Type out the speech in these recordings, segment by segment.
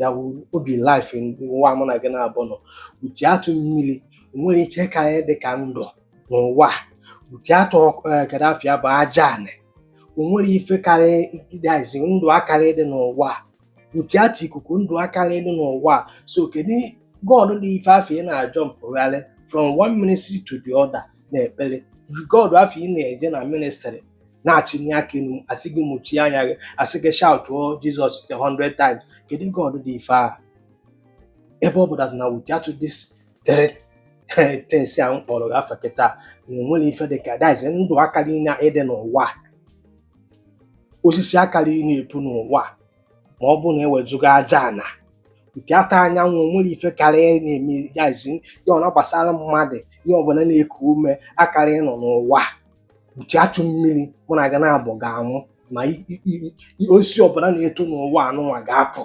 ya bụ obi life nwa mụ na gị naabọ nọ without mmiri onwerọ ife karị dị ka ndụ n'ụwa without God afụ bụ aja anị onwerọ ife karị that is ndụ akarị dị n'ụwa without ikuku ndụ akarị dị n'ụwa so kedu God dị ife afụ ị na-ajọmpụgharị from one ministry to the other na-ekpere God afụ ị na-eje na ministry na-achịnye aka enu asị gị mụchie anya gị asị gị shautụọ Jizọs the hundred times kedu God dị ife a ebe ọ bụ that na without this things a m kpọrọ gị afa kịta na enwere ife dị ka that is ndụ akarị na-adị n'ụwa osisi akarị na-epu n'ụwa ma ọ bụ na ewezụga aja ana without anyanwụ nwere ife karị na-eme that is ya ọ na-agbasara mmadụ ihe ọbụla na-eku ume akarị nọ n'ụwa without mmiri mụ na gị naabọ ga-anwụ ma osisi ọbụla na-eto n'ụwa anụnwa ga-akpọ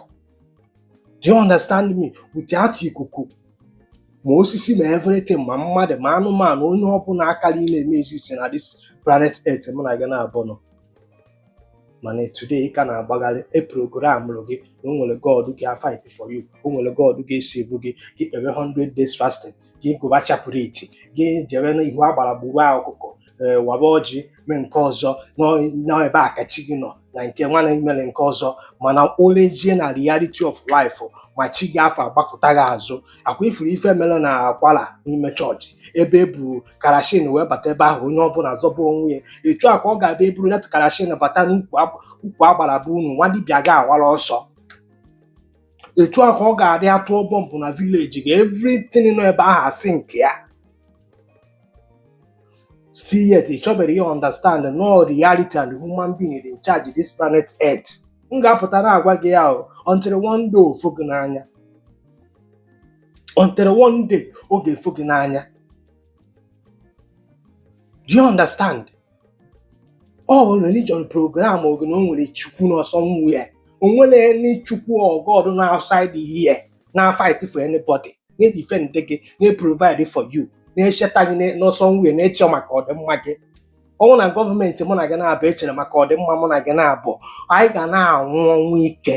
do you understand me without ikuku ma osisi ma everything ma mmadụ ma anụmanụ onye ọbụla akarị na-exist na this planet earth mụ na gị naabọ nọ mana today ị ka na-agbagharị e programụlụ gị na o nwere god ga-afight for you o nwere god ga-esave gị gị kpere 100 days fasting gị gụba chaplet gị jebe n'ihu agbara gbuwe ọkụkọ ee waba ọjị mee nke ọzọ n'ebe a ka chi gị nọ na nke nwana mere nke ọzọ mana oluzie na reality of life ma chi gị afụ agbakụta gị azụ ọkwa ị fụrụ ife mere na Kwara n'ime chọọchị ebe e bu karashin wee bata ebe ahụ onye ọbụla zọba onwe ya etu a ka ọ ga-abụ eburu leta karashin bata n'ukwu agbara be unu nwa dibịa ga-awara ọsọ etu a ka ọ ga-adị atụọ bọmbụ na village gị everything nọ ebe ahụ asị nke ya still yet ị chọberọ ị understand no reality and human being in charge this planet earth m ga-apụta na-agwa gị ya o, until one day o fo gị n'anya until one day ọ ga-efo gị n'anya do you understand ọ bụ religion programụrụ gị na o nwere chukwu nọ somewhere o nwere any chukwu or god nọ outside here na-afight for anybody na-edefend gị na-eprovide for you na-echeta gị nọ somewhere na-eche maka ọdịmma gị ọ wụ na gọọmenti mụ na gị naabọ echerọ maka ọdịmma mụ na gị naabọ anyị ga na-anwụ ọnwụ ike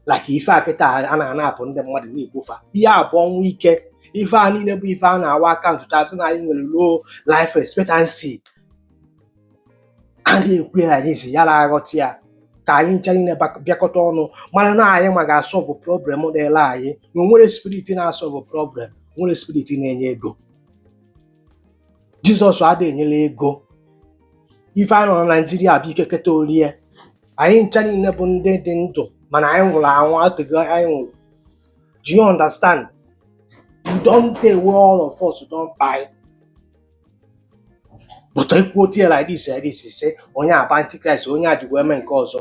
like ife a kịta a na-anapụ ndị mmadụ na-egbu fa ihe a bụ ọnwụ ike ife a niile bụ ife a na-awa aka ntụchasị na anyị nwere low life expectancy a na-ekwu ya anyị si yara aghọta ya ka anyị ncha niile bak- bịakọta ọnụ mara na anyị nwa ga-asọlvụ problem dịla anyị na onwerọ spirit na-asọlvụ problem onwerọ spirit na-enye ego jizọs adịghị enyela ego ife a nọ na naijiria bụ ike keta orie anyị ncha niile bụ ndị dị ndụ mana anyị nwụrụ anwụ eteego anyị nwụrụ do you understand e don tey wey all of us don kpai but ekwuo tie like this like this say onye a bụ antichrist onye a ji wee mee nke ọzọ